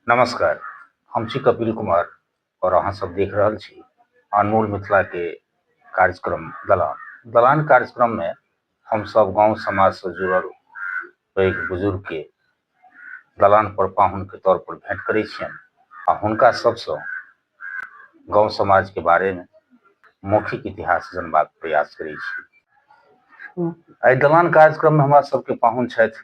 नमस्कार हम छी कपिल कुमार आओर अहाँ सब देख रहल छी अनमोल मिथिला के कार्यक्रम दलान दलान कार्यक्रम मे हम सब गांव समाज से जुड़ल पैघ बुजुर्ग के दलान पर पाहुन के तौर पर भेंट करै छियनि आ हुनका सबसँ गांव समाज के बारे मे मौखिक इतिहास जनबाक प्रयास करै छी एहि दलान कार्यक्रम मे हमरा सबके पाहुन छथि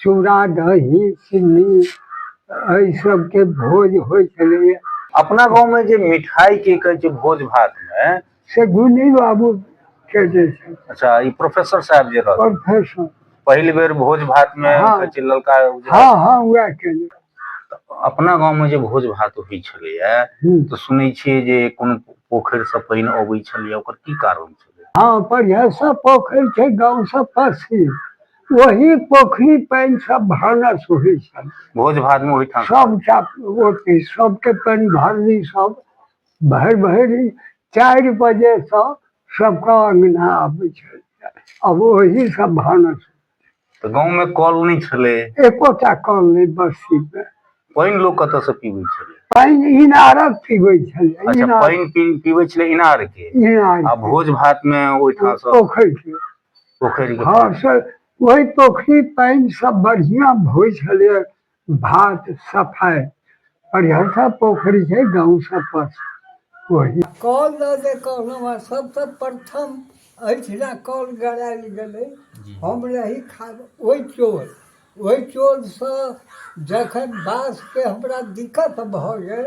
चूड़ा दही चिन्नी एहि सबके भोज होइ छलैए अपना गाँवमे जे मिठाइ की कहै छै भोज भातमे से गुनी बाबू के जे छै अच्छा ई प्रोफेसर साहब जे रहल प्रोफेसर पहिल बेर भोज भातमे हाँ। कहै छै ललका उजरा हँ हँ उएह केने अपना गाँवमे जे भोज भात होइ छलैए हूँ। तऽ सुनै छियै जे कोनो पोखरिसँ पानि अबै छलैए ओकर की कारण छलै हँ बढ़िआँसँ पोखरि छै गाँवसँ पसी वही पोखरी पानि सब भानस होइ छल भोज भात में ओहिठाम सबटा ओते सबके पानि भरली सब भरि भरि चारि बजे से सबके अंगना आबै छल अब वही सब भानस तऽ गाँव में कल नहि छलै एकोटा कल नहि बस्ती में पानि लोग कतऽ से पीबै छलै पानि इनारक पीबै छल अच्छा इनार पानि पी पीबै छलै इनार के इनार आ भोज भात में ओहिठाम से पोखरि के पोखरि हँ सर ओहि पोखरि पानि सब बढ़िआँ होइ छलै भात सफाइ हरिहरसा पोखरि छै गाँव सब पर ओहि कॉल दऽ दे कहलहुँ हँ सबसँ प्रथम एहिठिना कॉल गड़ायल गेलै हम रही खा ओहि चोर ओहि चोरसँ जखन बासके हमरा दिक्कत भऽ गेल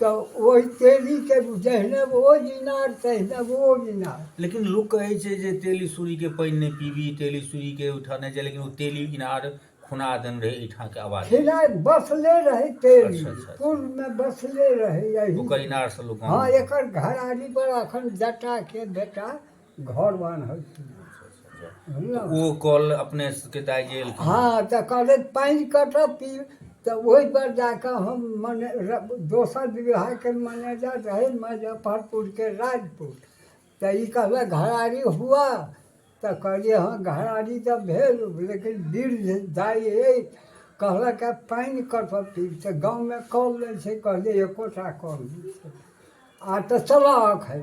तऽ ओहि तेलीके जहिने ओ इनार तहिने ओ इनार लेकिन लोक कहै छै जे तेली सूरीके पानि नहि पीबी तेली सूरीके ओहिठाम नहि जाय लेकिन ओ तेली इनार खुना देन रहै एहिठामके आवाज खिलाय बसले रहै तेली अच्छा, अच्छा, अच्छा। पूर्वमे बसले रहै यही ओकर इनारसँ लोक हँ एकर घरारी पर अखन जटाके बेटा घर बान्हल ओ कल अपने के दाय जे हाँ तऽ कहले पानि कटत तऽ ओहि पर जाके हम मने दोसर विवाह के मैनेजर रहे मुजफ्फरपुर के राजपुर तऽ ई कहले घरारी हुआ तऽ कहलिए हाँ घरारी तऽ भेल लेकिन वृद्ध दाय अछि कहलक पानि कटत तऽ गाँव मे कल नहि छै कहलिए एकोटा कल नहि छै आ तऽ चलऽ अखन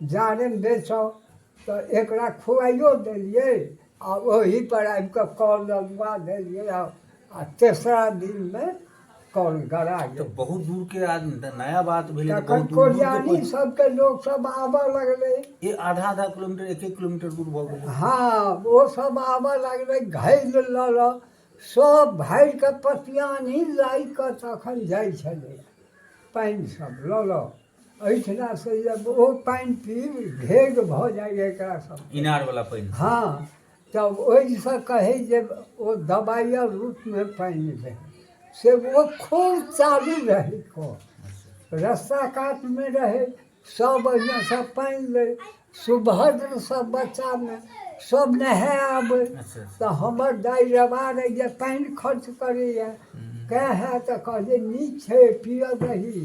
जारनि बेचब तऽ एकरा खुआइयो देलियै आ ओही पर आबि कऽ कॉल लगवा देलियै आ आ तेसरा दिनमे कॉल गड़ा तऽ गेल बहुत दूर के आज नया बात भेलै तऽ तखन बहुत दूर दूर के कोरियानी पहुँच- सबके लोक सब आबऽ लगलै ये आधा आधा किलोमीटर एक एक किलोमीटर दूर भऽ गेलै हाँ वो सब आबऽ लगलै घैल लऽ लऽ सब भरि कऽ पतियानी लाइ कऽ तखन जाइ छलै पानि सब लऽ लऽ एहिठिना से जब ओ पानि पीब घेग भऽ जाइए एकरा सब इनारवला पानि हँ तब ओहिसँ कहै जे ओ दबाइ आर रूपमे पानि रहै से ओ खूब चालू रहै कऽ रस्ता कातमे रहै सब ओहिमेसँ पानि लै सुभद्र सब बच्चामे सब नहाय आबै अच्छा अच्छा तऽ हमर दाइ रबार अइ जे पानि खर्च करैए कए हए तऽ कहलियै नीक छै पियऽ दही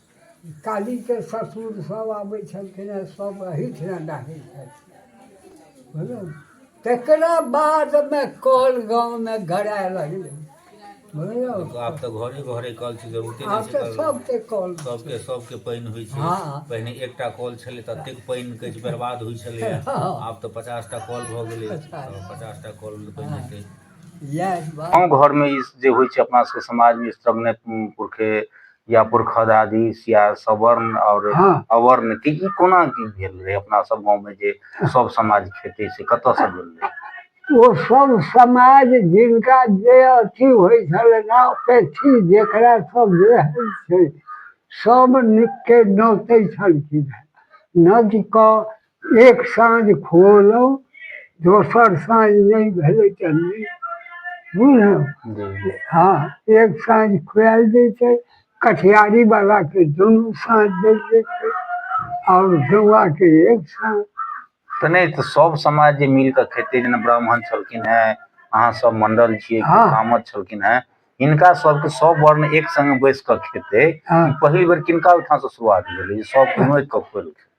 कालीके ससुर सब आबै छलखिन हँ सब एहिठिना डाकै छलखिन तकरा बादमे कल गाँवमे गड़ाए लगलै आब तऽ घरे घरे कल छै जरूरते आब तऽ सबके कल सबके सबके पानि होइ छै हाँ। पहिने एकटा कल छलै ततेक पानि कहै छै बर्बाद होइ छलै हाँ। आब तऽ पचासटा कल भऽ गेलै पचासटा कल पानि छै हाँ। गाँव घरमे जे होइ छै अपना सबके समाजमे सब ने पुरखे या पुरखद आदि या सवर्ण आओर हँ। अवर्ण के ई कोना की भेल रहै अपना सब गाँव में जे सब समाज खेतै से कतऽ से भेल रहै ओ सब समाज जिनका जे अथी होइ छलै ना पेथी जेकरा सब जे होइ छै सब नुक के नोतै छलखिन हेँ। नोत कऽ एक साँझ खुअलहुँ दोसर साँझ नहि भेलै तऽ नहि बुझलहुँ हँ एक साँझ खुआएल जाइ छै कठियारी बलाके दुनू साँझ देल जाइ छै आओर गौआके एक साँझ तऽ नहि तऽ सब समाज जे मिल कऽ खेतै जेना ब्राह्मण छलखिन हेँ अहाँ सब मंडल छियै कि हँ। कामर छलखिन हेँ हिनका सबके सब वर्ण एक संगे बैस कऽ खेतै हँ। ई पहिल बेर किनका ओहिठाम से शुरुआत भेलै जे सब मिल कऽ खुएलखिन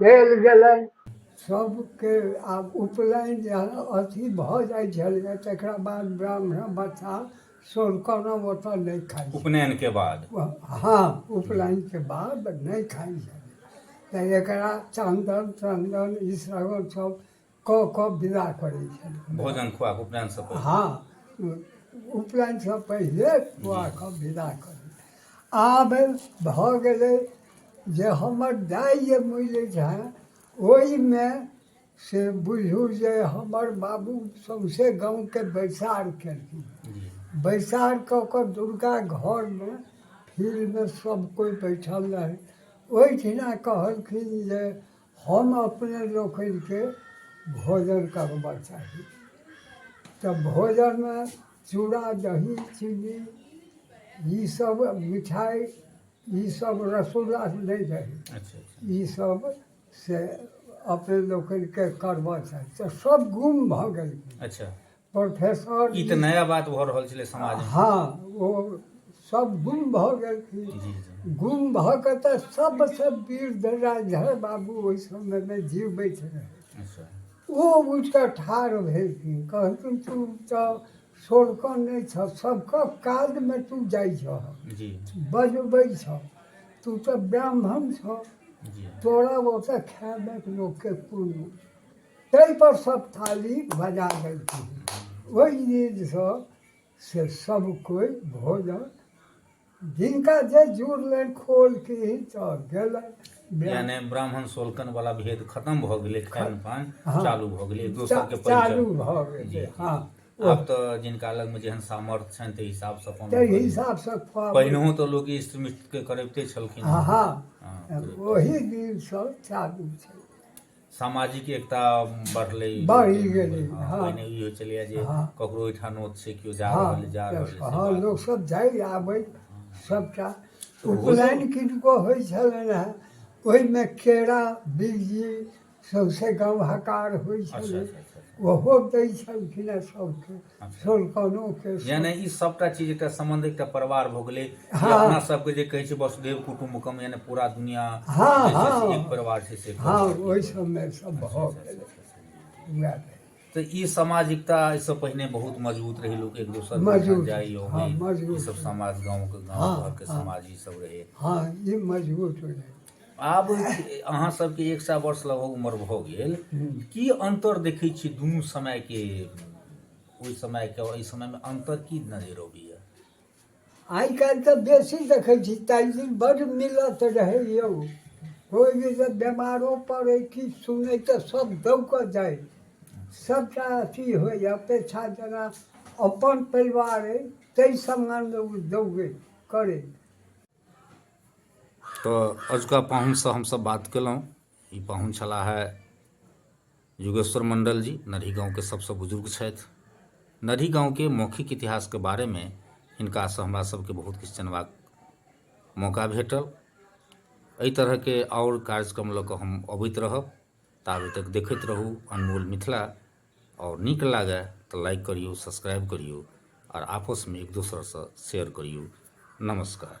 देल गेलनि सभके आब उपनयन जे अथी भऽ जाइ छलैए तकरा बाद ब्राह्मण बच्चा सोरकौना ओतऽ नहि खाइ छै। उपनयनके बाद हँ उपनयनके बाद नहि खाइ छलै तऽ एकरा चन्दन चन्दन ई सब सब कऽ कऽ विदा करै छलखिन भोजन खुआ कऽ उपनयन से पहिले हँ उपनयन से पहिले खुआ कऽ विदा करै आब भऽ गेलै जे हमर दाइ जे मरि जाय ओहिमे से बुझू जे हमर बाबू सौंसे गाँवके बैसार केलखिन जी बैसार कऽ कऽ दुर्गा घरमे फील्डमे सब कोइ बैठल रहै ओहिठिना कहलखिन जे हम अपने लोकनिके भोजन करबऽ चाही तऽ भोजनमे चूड़ा दही चिन्नी ई सब मिठाइ ई सब रसगुल्ला नहि दही ई सब से अपने लोकनिके करबऽ चाही तऽ सब गुम भऽ गेलखिन अच्छा प्रोफेसर ई तऽ नया बात भऽ रहल छलै समाज हँ ओ सब गुम भऽ गेलखिन गुम भऽ कऽ तऽ सबसँ वीर दराजर बाबू ओहि समयमे जीवबै छलै अच्छा। ओ उठि कऽ ठाढ़ भेलखिन कहलखिन तू तऽ सोरकन नहि छह सबके काजमे तू जाइ छह जी बजबै छह तू तऽ ब्राह्मण छह जी तोरा ओतऽ खायमे लोकके कोनो ताहिपर सब थाली बजा देलखिन ओहि नींदसँ से सब कोइ भोजन जिनका जे जुड़लनि खोल की तऽ गेलनि यानी ब्राह्मण सोलकन वाला भेद खत्म भऽ गेलै खान पान हँ। चालू भऽ गेलै एक दोसर के चा- चालू परिचय भऽ जी, गेलै जी। हँ आब तऽ जिनका लग में जेहन सामर्थ्य छनि ताहि हिसाब से अपन ताहि लोक- हिसाबसँ खुआबै पहिनहो तऽ लोक इष्ट मिष्ट के करबिते छलखिन हँ हँ हँ, ओहि दिनसँ चालू छै सामाजिक एकता बढ़लै बढ़ि गेलै हँ पहिने ई होइ छलैए जे हँ। ककरो ओहिठाम नोत छै केओ जा रहल अइ, जा रहल अइ, से हँ बात। लोक सब जाइ आबै सबटा उपनयन किनको होइ छलनि हेँ ओहिमे केरा बिज्जी सौंसे गाँव हकार होइ अच्छा छलै अच्छा अच्छा ओहो दै छलखिन हेँ सबके यानी ई सबटा चीज एकटा सम्बन्ध एकटा परिवार भऽ गेलै हाँ। अपना सबके जे कहै छै वसुदेव कुटुम्बकम यानी पूरा दुनिया हाँ, जे छै से हाँ। एक परिवार छै से हँ ओहि सबमे सब भऽ गेल वएह भेल। तऽ ई सामाजिकता एहिसँ पहिने बहुत मजबूत रहै लोक एक दोसर मजबूत, जाइ हाँ, अबै मजबूत। ई सब समाज गाँवके गाँव हाँ, घरके हाँ। समाज ई सब रहै हँ ई मजबूत हो जाए आब अहाँ सबके एक सए वर्ष लगभग उम्र भऽ गेल की अन्तर देखै छी दुनू समयके ओहि समयके आओर एहि समयमे अन्तर की नजर अबैया आइ काल्हि तऽ बेसी देखै छी ताहि दिन बड्ड मिलत रहै यौ कोइ भी जे बेमारो पड़ै किछु सुनै तऽ सब दौकऽ जाइ सबटा अथी होइ अपेक्षा जेना अपन परिवार अइ ताहि सम्बन्धमे ओ दौगै करै तऽ अजुका पाहुनसँ हमसभ बात कयलहुँ ई पाहुन छलाह हे युगेश्वर मण्डल जी नरही गामके सभसँ बुजुर्ग छथि नरही गामके मौखिक इतिहासके बारेमे हिनकासँ हमरासभके बहुत किछु जनबाक मौका भेटल एहि तरहके आओर कार्यक्रम लऽ कऽ हम अबैत रहब ताबे तक देखैत रहू अनमोल मिथिला आओर नीक लागय तऽ लाइक करियौ सब्सक्राइब करियौ आओर आपसमे एक दोसरसँ शेयर करियौ नमस्कार